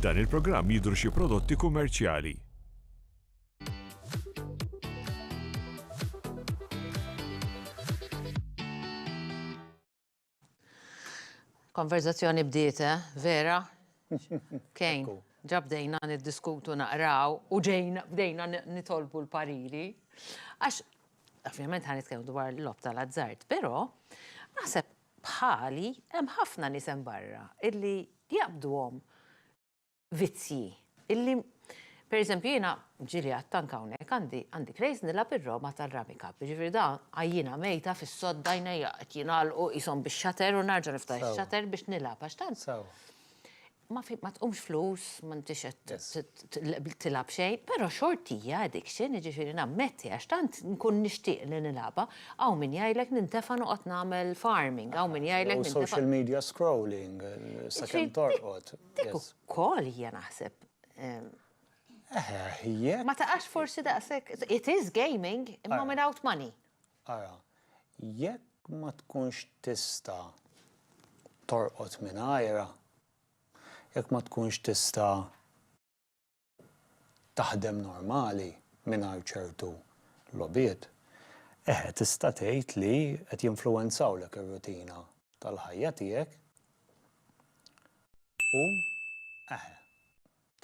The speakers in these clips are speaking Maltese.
F'dan il-programm jidhru xi prodotti kummerċjali. Konverzazzjoni bdiet, eh? Vera? Kejn, ġa bdejna niddiskutu naqraw u ġejna bdejna nitolbu l-pariri. Għax Ovvjament ħa nitkellmu dwar l-lob tal-azzard, però naħseb bħali hemm ħafna nies hemm barra illi jaqbduhom vizzji illi Per eżempju, jina ġili għattanka hawnhekk għandi għandi krejz nilab ir-roma tal-ramika. Ġifir da għajjina mejta fis-sodda jnejja qed jingħalqu qishom bix-xater u narġa' niftaħ ix-xater biex nilab għax tant. Ma fi, ma tqumx flus, ma ntix qed t- Yes. t- t- tilgħab xejn, però xort hija addiction, jiġifieri nammetti għax tant nkun nixtieq li nilgħabha, hawn min jgħidlek nintefa' noqgħod nagħmel farming, hawn min jgħidlek Jew nintefa' social media scrolling, eh, sakemm Ġifieri, torqod. Dik Yes. ukoll hija naħseb ehm, Eh, jekk. ma taqax forsi daqshekk. It is gaming imma without money. Ara, jekk ma tkunx tista' torqod mingħajrha, jekk ma tkunx tista' taħdem normali mingħajr ċertu logħbiet, eħe tista' tgħid li qed jinfluwenzawlek ir-rutina tal-ħajja tiegħek u, eħe,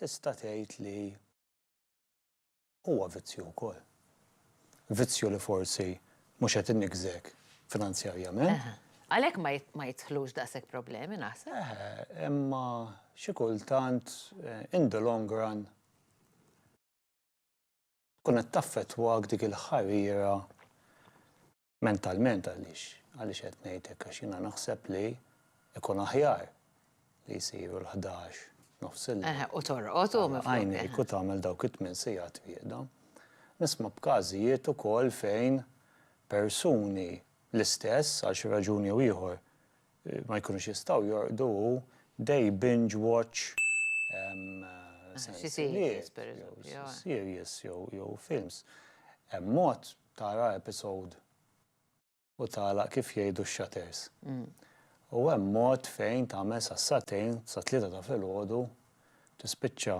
tista' tgħid li. huwa vizzju wkoll. Vizzju li forsi mhux qed iniggżek finanzjarjament. Għalhekk ma jidħlux daqshekk problemi naħseb. Eħe, imma xi kultant in the long run tkun qed taffettwak dik il-ħarira Mentalment għaliex, għaliex qed ngħid hekk għax jiena naħseb li ikun aħjar li jsiru l-ħdax nofs il Eħe, u torqod u miflok. Għajnejk u tagħmel dawk it-tmien sigħat wieqda. Nisma' b'każijiet ukoll fejn persuni l-istess għal xi raġun jew ieħor ma jkunux jistgħu jorqdu u they binge watch sensiliet, series jew films. Hemm mod Tara episode u tagħlaq kif jgħidu x-shutters. U hemm mod fejn tagħmel sas-sagħtejn, sat-tlieta ta' filgħodu, tispiċċa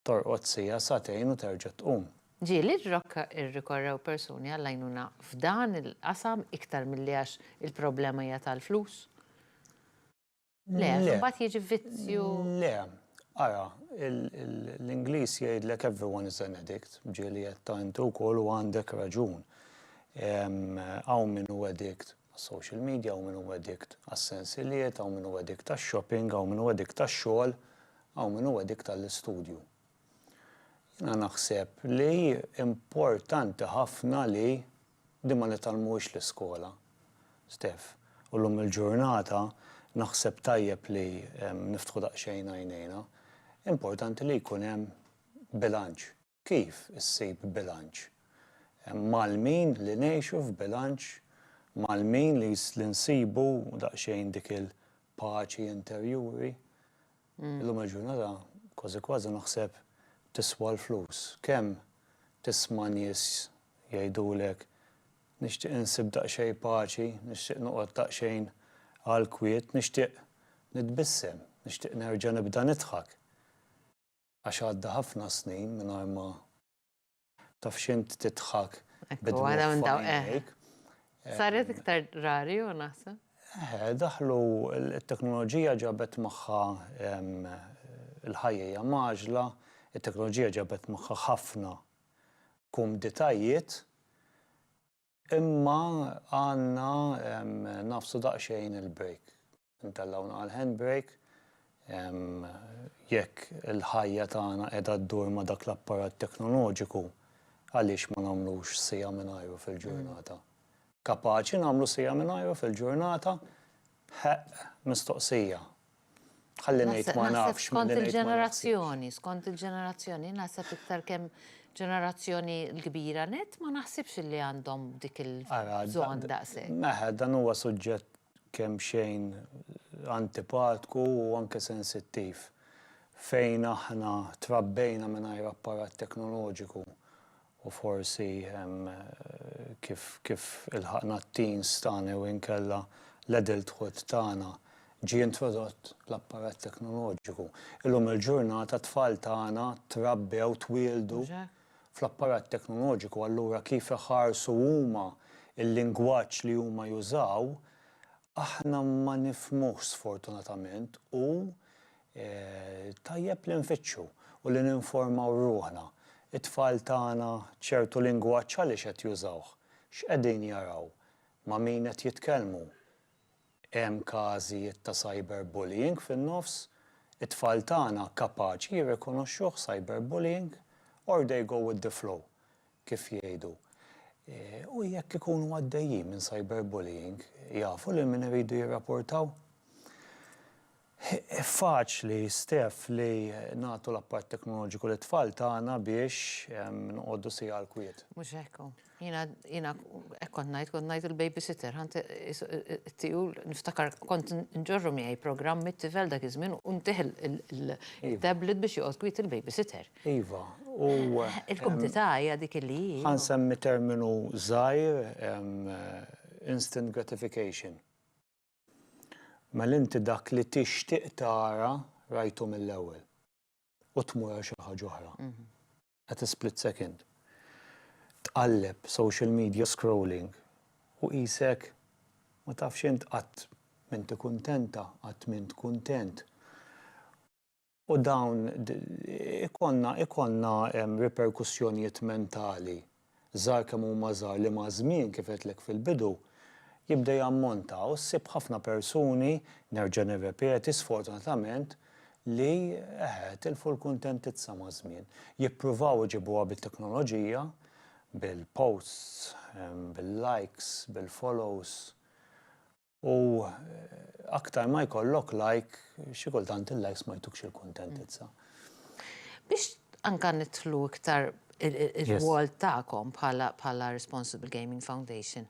torqod siegħa, sagħtejn u terġa' tqum. Ġieli r-Rocca irrikorrew persuni għall-għajnuna f'dan il-qasam iktar milli għax il-problema hija tal-flus? Le, mbagħad jiġi vizzju. Le, ara, l-Ingliż jgħidlek everyone is an addict, ġieli qed ta' intu wkoll u għandek raġun. Hawn min hu addict għas-social media, hawn min hu addict għas-sensilijiet, hawn min hu addict għax-shopping, hawn min hu addict għax-xogħol, hawn min hu addict għall-istudju. Jiena naħseb li importanti ħafna li Din ma nitgħallmuhiex l-iskola, Steph, u llum il-ġurnata naħseb tajjeb li niftħu daqsxejn għajnejna. Importanti li jkun hemm bilanċ. Kif issib bilanċ? Mgħallmin li ngħixu f'bilanċ, mgħallmin li nsibu daqsxejn dik il-paċi interjuri, Illum il-ġurnata kważi kważi naħseb tiswa l-flus. Kemm tisma' nies jgħidulek, nixtieq insib daqsxejn paċi, nixtieq noqgħod daqsxejn għall-kwiet, nixtieq nitbissem, nixtieq nerġa' nibda nidħak. Għax għadda ħafna snin mingħajr ma Taf x'int tidħak bid-dmugħ. Saret iktar rari u naħseb. Eħe, daħlu t-teknoloġija ġabet magħha l-ħajja magħġla, it-teknoloġija ġabet magħha ħafna kumditajiet Imma għandna nagħfsu daqsxejn il-break. Intellgħu naqal handbrake jekk il-ħajja tagħna qiegħda ddur ma' dak l-apparat teknoloġiku, għaliex ma nagħmlux siegħa mingħajru fil-ġurnata? Kapaċi nagħmlu siegħa mingħajru fil-ġurnata? Ħeqq mistoqsija. Ħalli ngħid ma nafx. Skont il-ġenerazzjoni, skont il-ġenerazzjoni, naħseb iktar kemm ġenerazzjoni l-kbira net, ma naħsibx li għandhom dik il-bżonn daqshekk. Meħed, dan huwa suġġett kemm xejn antipatku u anke sensittiv. Fejn aħna trabbejna mingħajr apparat teknoloġiku u forsi kif kif ilħaqna t-teens tagħna jew inkella l-adulthood tagħna ġie introdott l-apparat teknoloġiku. Illum il-ġurnata t-tfal tagħna trabbew, twieldu fl-apparat teknoloġiku allura kif iħarsu huma l-lingwaġġ li huma jużaw aħna ma nifhmuhx sfortunatament u Tajjeb li nfittxu u li ninformaw ruħna, it-tfal tagħna ċertu lingwaġġ għaliex qed jużawh? X'qegħdin jaraw? Ma' min qed jitkellmu? Hemm każijiet ta' cyberbullying fin-nofs? It-tfal tagħna kapaċi jirrikonoxxuh cyberbullying? Or they go with the flow, kif jgħidu? U jekk ikunu għaddejjin minn cyberbullying, jafu lil min iridu jirrapurtaw? Hi faċli, Stef, li nagħtu l-apparat teknoloġiku lit-tfal tagħna biex noqogħdu siegħa għall-kwiet. Mhux hekk hu. Jiena, jiena hekk kont ngħid, kont ngħid il-babysitter, ħa nt, it-tijul, niftakar kont nġorru miegħi programm mit-tifel dak iż-żmien u ntih il-tablet biex joqgħod kwiet il-babysitter. Iva, u. Il-kumdità hija dik li hi. Ħa nsemmi terminu żgħir, instant gratification. Mela inti dak li tixtieq tara rajtu mill-ewwel. U tmur għal xi ħaġa oħra. At a split second. Tqalleb social media scrolling u qisek ma tafx int qatt m'inti kuntenta, qatt m'int kuntent. u dawn ikollna ikollna riperkussjonijiet mentali żgħar kemm huma żgħar li maż-żmien kif għedtlek fil-bidu jibda jammonta u ssib ħafna persuni, nerġa' nirrepeti, sfortunatament, li eħe tilfu l-kuntentizza maż-żmien. Jippruvaw iġibuha bit-teknoloġija, bil-posts, bil-likes, bil-follows, U aktar ma jkollok like, xi kultant il-likes ma jtukx il-kuntentizza. Biex anka nidħlu iktar il-rwol tagħkom bħala Responsible Gaming Foundation.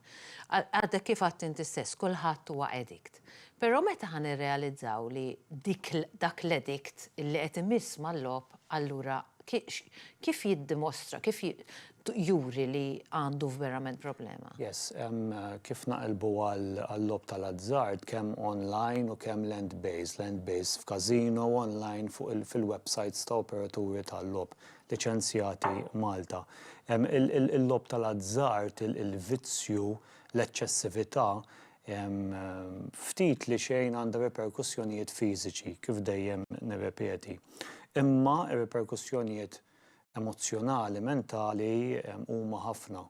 Għadek kif għedt inti stess, kulħadd huwa addict. Però meta ħa nirrealizzaw li dak l-addict li qed imiss mal-logħob allura kif jiddimostra, kif juri li għandu verament problema. Yes, kif naqilbu għal-lob tal-azzard kemm online u kemm land based, land based f'kasino online fuq il-websites ta' operaturi tal-lob liċenzjati Malta. Il-lob tal-azzard, il-vizzju, l-eċċessività, ftit li xejn għandha riperkussjonijiet fiżiċi, kif dejjem nirrepeti. Imma r-riperkussjonijiet emozzjonali, mentali huma ħafna.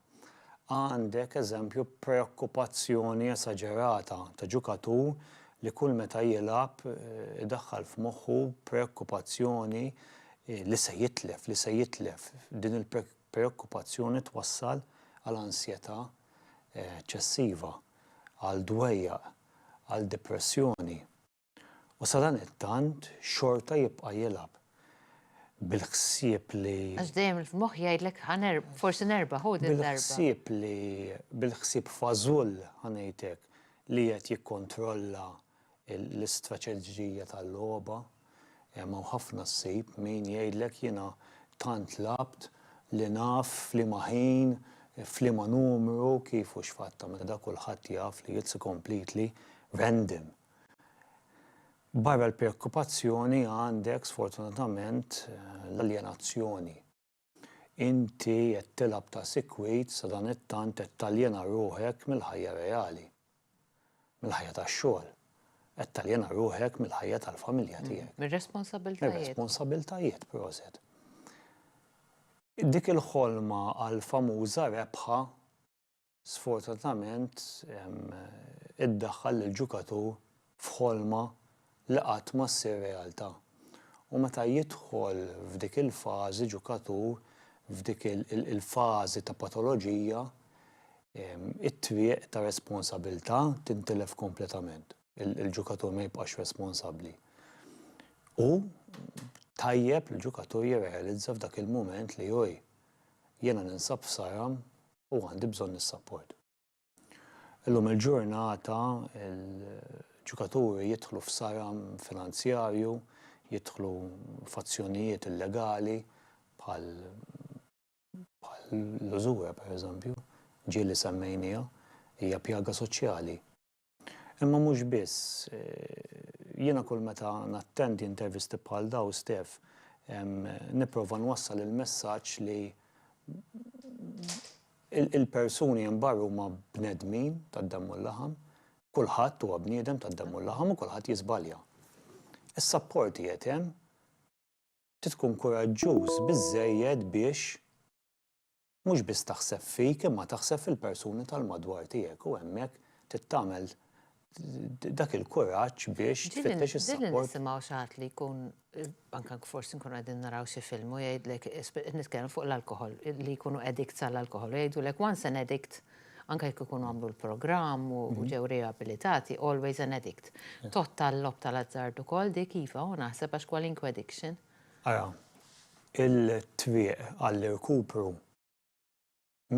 Għandek eżempju preokkupazzjoni esaġerata ta' ġukatur li kull meta jilgħab idaħħal f'moħħu preokkupazzjoni li se jitlef, li se jitlef. Din il-preokkupazzjoni twassal għal ansjetà eċċessiva, għal dwejjaq, għal depressjoni. u sadanittant xorta jibqa' jilgħab bil-ħsieb li. Għax dejjem il-moħħ jgħidlek forsi nerba' ħu din darba. Bil-ħsieb li bil-ħsieb fażull ħanejtek li qed jikkontrolla l-istrateġija tal-logħba hemm hawn ħafna ssib min jgħidlek jiena tant lgħabt li naf f'liema ħin, f'liema numru, kif u x'fatt tagħmel da kulħadd jaf li it's completely random. Barra l-preokkupazzjoni għandek sfortunatament l-aljenazzjoni. Inti qed tilgħab ta' sikwit sadanittant qed taljena ruħek mill-ħajja reali. Mill-ħajja tax-xogħol. Qed taljena ruħek mill-ħajja tal-familja tiegħek. Mir-responsabiltajiet. Mir-responsabiltajiet, proset. Dik il-ħolma għall-famuża rebħa sfortunatament iddaħħal lill-ġukatur f'ħolma li qatt ma ssir realtà. U meta jidħol f'dik il-fażi ġukatur, f'dik il-fażi ta' patoloġija, it-triq ta' responsabilità tintilef kompletament. Il-ġukatur ma jibqax responsabbli. U tajjeb li l-ġukatur jirrealizza f'dak il-mument li, oj, jiena ninsab f'saram u għandi bżonn is-sapport. Illum il-ġurnata il-ġukaturi jidħlu f'saram finanzjarju, jidħlu f'azzjonijiet illegali bħal bħal l-użura pereżempju, ġieli semmejnieha, hija pjaga soċjali. Imma mhux biss. Jiena kull meta nattendi intervisti bħal dawn, Stef, nipprova nwassal il-messaġġ li l-persuni hemm barra huma bnedmin tad-demm u l-laħam, kulħadd huwa bniedem tad-demm u l-laħam u kulħadd jiżbalja. Is-sapport qiegħed hemm, trid tkun kuraġġuż biżżejjed biex mhux biss taħseb fik imma taħseb fil-persuni tal-madwar tiegħek u hemmhekk trid tagħmel dak il-kuraġġ biex tfittex is-sapport. Din nisimgħu xi ħadd li jkun anke forsi nkunu qegħdin naraw xi film u jgħidlek nitkellem fuq l-alkoħol li jkunu addict għall-alkoħol u jgħidulek once an addict anke jekk ikunu għamlu l-programm u mhm. ġew riabilitati, always an addict. Totta l-lob tal-azzard ukoll dik iva u naħseb għax kwalinkwe addiction. Ara, il-twieq għall-irkupru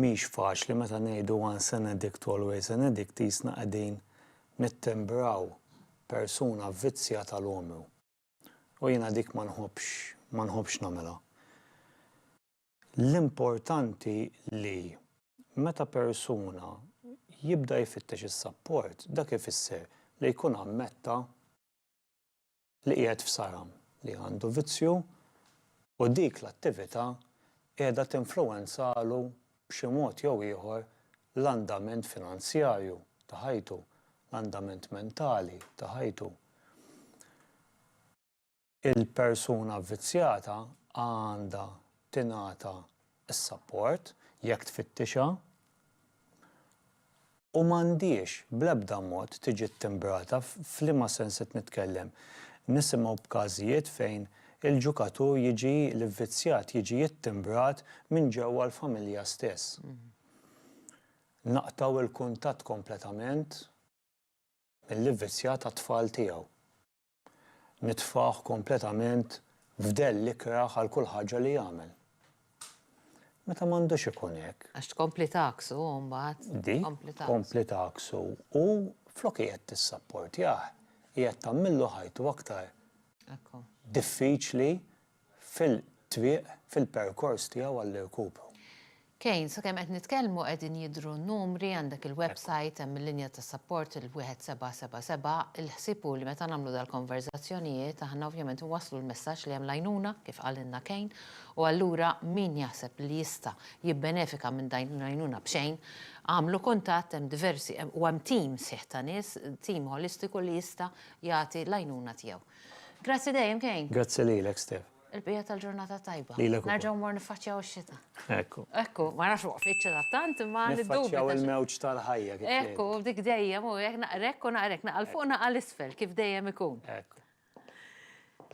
mhix faċli meta ngħidu once an addict always an addict qisna qegħdin nittimbraw persuna vvizzjata l-għomru. U jiena dik ma nħobbx ma nħobbx nagħmilha. L-importanti li meta persuna jibda jfittex is-sapport dak ifisser li jkun ammetta li qiegħed f'saram li għandu vizzju u dik l-attività qiegħda tinfluwenzalu b'xi mod jew ieħor l-andament finanzjarju ta' ħajtu, l-andament mentali ta' ħajtu. Il-persuna vvizzjata għandha tingħata is-sapport, jekk tfittixha, u m'għandhiex bl-ebda mod tiġi ttimbrata, f'liema sens qed nitkellem? Nisimgħu b'każijiet fejn il-ġukatur jiġi, l-ivvizzjat jiġi ttimbrat minn ġewwa l-familja stess. Naqtgħu l-kuntatt kompletament mill-ivvizzjat għat-tfal tiegħu. nitfgħuh kompletament f'dell l-ikrah għal kull ħaġa li jagħmel. Meta m'għandux ikun hekk. Għax tkompli tagħaksu u mbagħad. Di, tkompli tagħaksu u flok qiegħed tissapportjah, qiegħed tagħmillu ħajtu aktar diffiċli fil-triq fil-perkors tiegħu għall-irkupru. Kane, sakemm qed nitkellmu qegħdin jidhru n-numri, għandek il-website, hemm il-linja ta' sapport, il-1777, il-ħsieb hu li meta nagħmlu dal-konverżazzjonijiet aħna ovvjament inwasslu l-messaġġ li hemm l-għajnuna, kif qalilna Kane, u allura min jaħseb li jista' jibbenefika minn din l-għajnuna b'xejn, agħmlu kuntatt, hemm diversi, u hemm tim sħiħ ta' nies, tim ħolistiku li jista' jagħti l-għajnuna tiegħu. Grazzi dejjem Kane. Grazzi lilek Stef. Il-bqija tal-ġurnata tajba. Lilek. Nerġgħu mor niffaċċjaw ix-xita. Ekku. Ekku, ma nafx waqfitx ta' tant imma niddu. Niffaċċjaw il-mewġ tal-ħajja. Ekku, dik dejjem u jekk naqrek u naqrek naqal fuq naqal isfel kif dejjem ikun. Ekku.